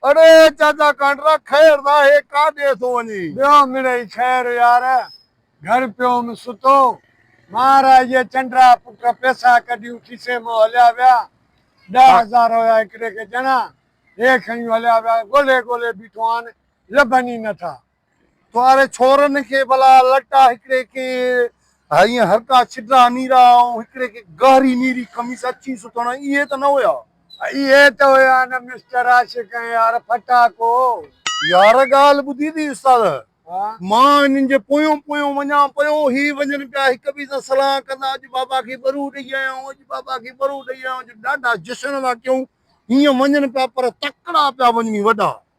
اڙي چاچا ڪانڊرا خير ناهي ڪاڏي ٿو وڃي. ٻيو مڙئي خير يار گهر پيوم ستو مهاراج جي چنڊرا پٽ پيسا ڪڍيون کيسي مان هليا ويا ڏهه هزار هيا هڪڙي کي ڄڻا هي کڻي هليا ويا ڳولهي ڳولهي بيٺو آن لڀن ئي نه ٿا. ڪنواري ڇورن کي ڀلا لٽا هڪڙي کي هيئن هرڪا ڇڊرا نيرا ۽ هڪڙي کي گهري نيري قميص اڇي سٿڻ اهي ته نه هيا. اهي ته هيا نه مسٽر عاشق ۽ يار ڦٽاڪو. يار ڳالهه ٻڌي ٿي استاد مان هنن جي پويون پويون وڃان پيو هي وڃن پيا هڪ ٻئي سان صلاح ڪندا اڄ بابا کي ٻرو ڏئي آيائون اڄ بابا کي ٻرو ڏئي آيائون اڄ ڏاڍا جشن ٿا ڪيون هيئن وڃن پيا پر تڪڙا پيا وڃني وڏا